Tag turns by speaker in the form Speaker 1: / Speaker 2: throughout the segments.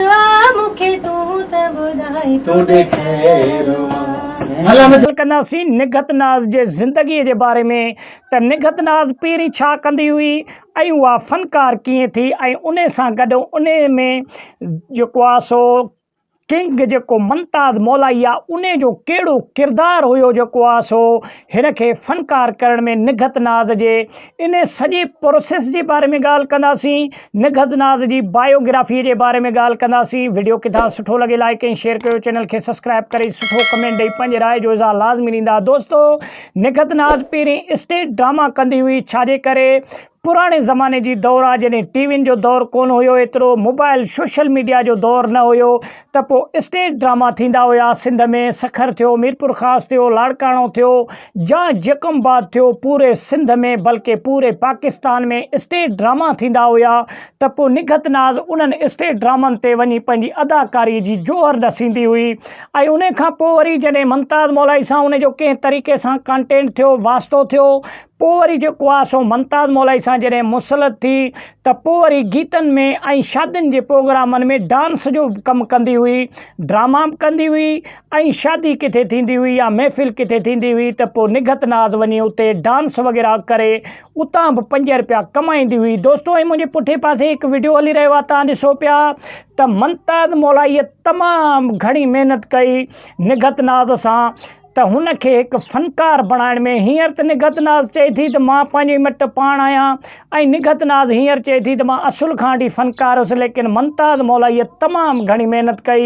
Speaker 1: مون کي تون ته ٻڌائي تون ڏي خير مان. ڳالهه ڪنداسين نگهت ناز جي زندگيء جي باري ۾ ته نگهت ناز پهرين ڇا ڪندي هئي ۽ اها فنڪار ڪيئن ٿي ۽ انهي سان گڏ انهي ۾ جيڪو آ سو ڪنگ جيڪو ممتاز مولائي آ انهي جو ڪهڙو ڪردار هيو جيڪو آ سو هن کي فنڪار ڪرڻ ۾ نگهت ناز جي انهيء سڄي پروسيس جي باري ۾ ڳالهه ڪنداسين، نگهت ناز جي بايو گرافيء جي باري ۾ ڳالهه ڪنداسين. وڊيو ڪٿان سٺو لڳي لائيڪ ۽ شيئر ڪيو چينل کي سبسڪرائيب ڪري سٺو ڪمينٽ ڏئي پنهنجي راء جو اظهار لازمي ڏيندا دوستو نگهت ناز پهرين اسٽيج ڊراما ڪندي هئي ڇاجي ڪري پراڻي زماني جي دور آ جڏهن ٽي وين جو دور ڪون هيو ايترو موبائل سوشل ميڊيا جو دور نه هيو ته پوء اسٽيج ڊراما ٿيندا هيا سنڌ ۾ سکر ٿيو ميرپورخاص ٿيو لاڙڪاڻو ٿيو جا جيڪم آباد ٿيو پوري سنڌ ۾ بلڪه پوري پاڪستان ۾ اسٽيج ڊراما ٿيندا هيا ته پوء نگهت ناز انهن اسٽيج ڊرامن تي وڃي پنهنجي اداڪاري جي جوهر ڏسيندي هئي ۽ انهي کان پوء وري جڏهن ممتاز مولائي سان ان جو ڪنهن طريقي سان ڪانٽينٽ ٿيو واسطو ٿيو پوء وري جيڪو آهي سو ممتاز مولائي سان جڏهن مسلط ٿي ته پوء وري گيتن ۾ ۽ شادين جي پروگرامن ۾ ڊانس جو به ڪم ڪندي هئي، ڊراما به ڪندي هئي ۽ شادي ڪٿي ٿيندي هئي يا محفل ڪٿي ٿيندي هئي ته پوء نگهت ناز وڃي اتي ڊانس وغيره ڪري اتان به پنج رپيا ڪمائيندي هئي دوستو ۽ منهنجي پٺئين پاسي هڪ وڊيو هلي رهيو آهي توهان ڏسو پيا ته ممتاز مولائيء تمام گهڻي محنت ڪئي نگهت ناز سان ته هن کي هڪ فنڪار بڻائڻ ۾ هينئر ته نگهت ناز چئي ٿي ته مان پنهنجي مٽ پاڻ آهيان ۽ نگهت ناز هينئر چئي ٿي ته مان اصل کان وٺي فنڪار هيس ليڪن ممتاز مولائيء تمام گهڻي محنت ڪئي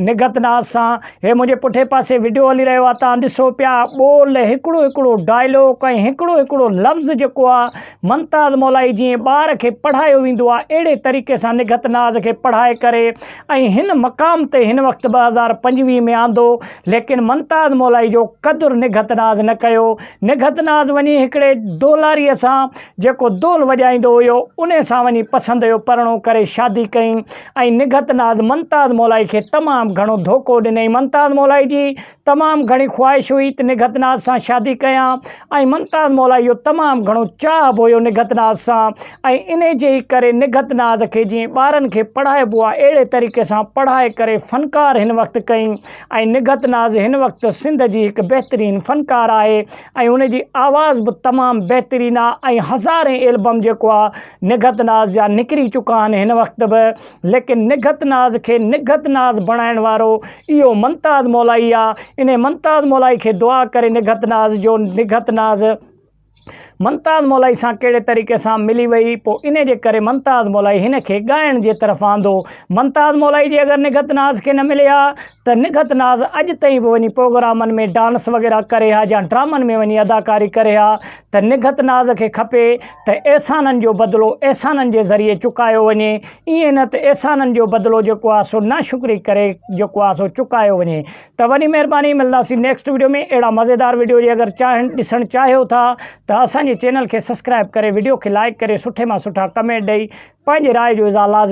Speaker 1: نگهت ناز سان هي منهنجي پٺي پاسي وڊيو هلي رهيو آهي توهان ڏسو پيا ٻول هڪڙو هڪڙو ڊائلاگ ۽ هڪڙو هڪڙو لفظ جيڪو آهي ممتاز مولائي جيئن ٻار کي پڙهايو ويندو آهي اهڙي طريقي سان نگهت ناز کي پڙهائي ڪري ۽ هن مقام تي هن وقت ٻه هزار پنجويهه ۾ آندو ليڪن ممتاز مولائي جو قدر نگهت ناز نه ڪيو نگهت ناز وڃي هڪڙي ڍولاري سان جيڪو ڍول وڄائيندو هيو انهي سان وڃي پسند جو پرڻو ڪري شادي ڪئي ۽ نگهت ناز ممتاز مولائي کي تمام گهڻو ڌوڪو ڏنئي ممتاز مولائي جي تمام گهڻي خواهش هئي ته نگهت ناز سان شادي ڪيان ۽ ممتاز مولا اهو تمام گهڻو چاهه به هيو نگهت ناز سان ۽ انهي جي ئي ڪري نگهت ناز کي جيئن ٻارن کي پڙهائبو آهي اهڙي طريقي سان پڙهائي ڪري فنڪار هن وقت ڪئي ۽ نگهت ناز هن وقت سنڌ جي هڪ بهترين فنڪار آهي ۽ هن جي آواز به تمام بهترين آهي ۽ هزارين البم جيڪو آهي نگهت ناز جا نڪري چڪا آهن هن وقت به ليڪن نگهت ناز کي نگهت ناز بڻائڻ وارو اهو منتاز مولائي آ انهي منتاز مولائي کي دعا ڪري نگهت ناز جو نگهت ناز منتاز مولائي سان ڪهڙي طريقي سان ملي وئي پو انهي جي ڪري منتاز مولائي هن کي ڳائڻ جي طرف آندو منتاز مولائي جي اگر نگهت ناز کي نه ملي ها ته نگهت ناز اڄ تائين به وڃي پروگرامن ۾ ڊانس وغيره ڪري ها يا ڊرامن ۾ وڃي اداڪاري ڪري ها ته نگهت ناز کي کپي ته احسانن جو بدلو احسانن جي ذريعي چڪايو وڃي ائين نه ته احسانن جو بدلو جيڪو آهي سو ناشڪري ڪري جيڪو آهي سو چڪايو وڃي ته وڏي مهرباني ملداسين نيڪسٽ وڊيو ۾ اهڙا مزيدار وڊيو جي اگر چاهن ڏسڻ چاهيو ٿا ته اسان جي چينل کي سبسڪرائب ڪري وڊيو کي لائڪ ڪري سٺي مان سٺا ڪمينٽ ڏئي پنهنجي راء جو اظهار لازمي